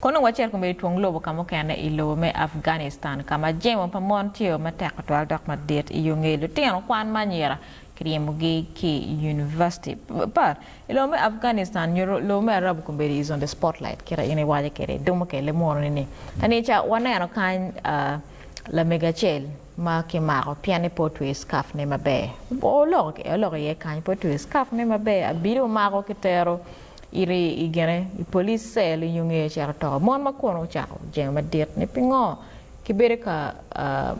Kono wacit kome i twong lobo ka mukene i lobo me Afghanistan ka ma jemo pa mon tye o matek tutwal dok madit i yo ngeyo lutino kwan ma anyira kiryimogi ki i univaciti pat i lobo me Afghanistan nyuto lobo me Arabu kombedi is on the spotlight kite in iwaco kede dong mukene lemwononi ni kanica waneno kany lamego acel ma kimako pien ni pe otweyo scarf ne maber oloko iye kany pe otweyo scarf ne maber abido omako kitero Iri i gine i police cell i nyongeyo cito to. Mon ma kono ocako jengo madit ni pingo ki bedo ka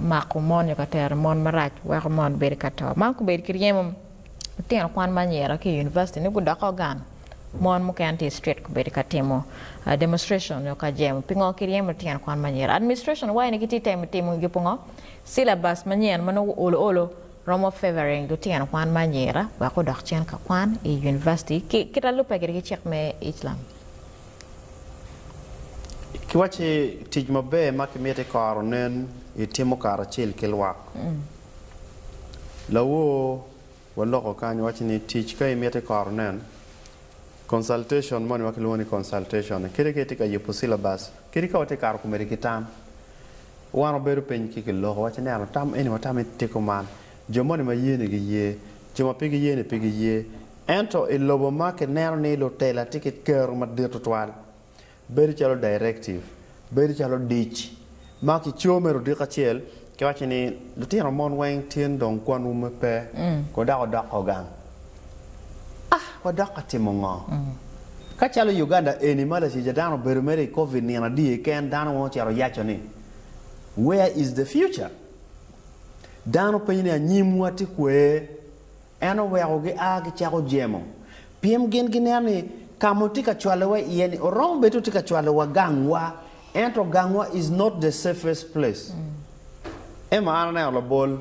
mako mon nyo ka tero mon marac weko mon bedo ka to. Man kubed ki ryemo lutino kwan ma anyira ki i university ni gudoke gang mon mukene tye i street kubedo ka timo demonstration nyo ka jemo pingo ki ryemo lutino kwan ma anyira. Administration wayi ni gitye temo timo ngi pungo syllabus manyen ma nongo olo olo Romo favoring lutino kwan me anyira wek odok cen ka kwan i University ki kit alubbe kede ki cik me Islam. Ki wacci tic maber ma ki miti koro nen i timo kara acel ki lwak. Lawor wa loko kany wacci ni tic ka i miti koro nen, consultation moni ma ki lwongo ni consultation ni kadi ka i ti ka yubu syllabus kadi ka wa ti kato komedi ki tam Wan wabedo piny ki kiloko waci ni watam eni watam ni tiko man, jo moni ma ye ni gi ye, jo ma pe gi ye ni pe gi ye. Ento i lobo ma ki neno ni lutela tye ki kero madit tutwal, bedo calo directive, bedo calo dic ma ki co mere odiko acel ki waci ni lutino mon weng tin dong kwanwu pe ko dako dok ogang. A Wadok ka timo ngo? Ka calo i Uganda eni ma latic a dano obedo mere i Covid nino adii keken, dano weng ocito oyaco ni, Where is the future? Dano penyo ni anyimwa tye kwee? En oweko gi a gicako jemo, pien gin gineno ni ka ma otye ka cwalo wa iye ni oromo bed ni otye ka cwalo wa gang wa, ento gang wa is not the safest place. Emma, An aneno labol.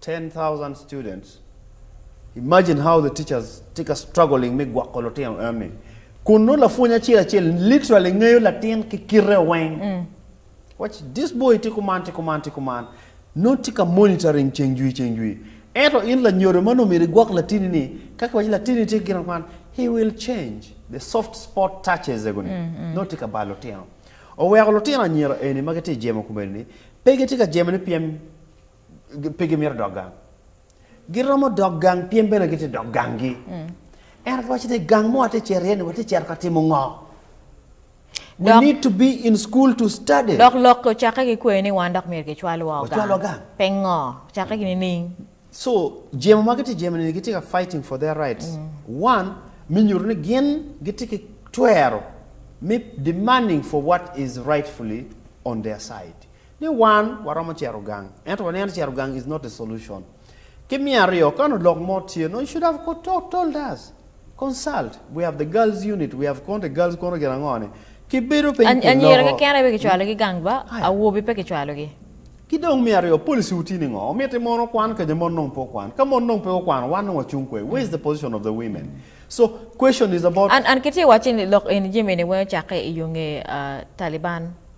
Ten thousand students, imagine how the teachers tye ka struggling me gwoko lutino enoni. Kun nongo lapwony acel acel literally ngeyo latin ki kite weng. Watch this boy tye kuman tye kuman tye kuman. Nongo tye ka monitoring ceng jwi ceng jwi. Ento in lanyodo ma nongo myero igwok latini ni ka kiwaco latini tye ki gin ma kuman he will change the soft spot touches ego ni nongo tye ka balo lutino. Oweko lutino anyira eni ma gitye jemo kome eni pe gitye ka jemo ni pien pe gimito dok gang. Giromo dok gang pien bene gitye dok ganggi. Mm. Ento kiwaco ni gang mo watye cero iye ni watye cero ka timo ngo? We need to be in school to study. Dok lok ocakke ki kweyo ni wan dok myero gicwal wa ogang. Wacwal wa gang. Pe ngo, ocakke ki nining? So, jemo ma gitye jemo ni gitye ka fighting for their rights. Mm. One, me nyuto ni gin gitye ki twero me demanding for what is rightfully on their side. ni wan waromo cito gang ento waniang ni cito gang is not the solution. Ki me aryo kano lok mo tye nongo you should have told us, consult, we have the girls unit, we have konte girls kono gin ango ni ki bedo piny ki loko. Anyira keken aye pe ki cwalo gi gang ba, awobi pe ki cwalo gi. Ki dong me aryo policy wu tye ni ngo? Omiti mon okwan kanya mon nongo pe okwan? Ka mon nongo pe okwano wan nongo wacung kwe? Where is the position of the women? So question is about. An ki tye waci ni lok eni jami eni weng ocakke iyo nge Taliban.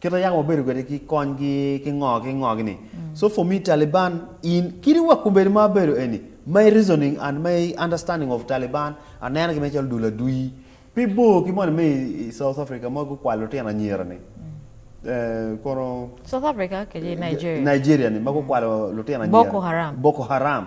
Kit ma yako wabedo kwede ki konygi ki ngo ki ngo gi ni. So for me Taliban in kit wa kombeddi ma abedo eni my reasoning and my understanding of Taliban aneno gi me calo dul adwi pe bor ki moni me i South Africa ma gukwalo lutino anyira ni kono South Africa kede Nigeria. Nigeria ni ma gukwalo lutino anyira Boko Haram. Boko Haram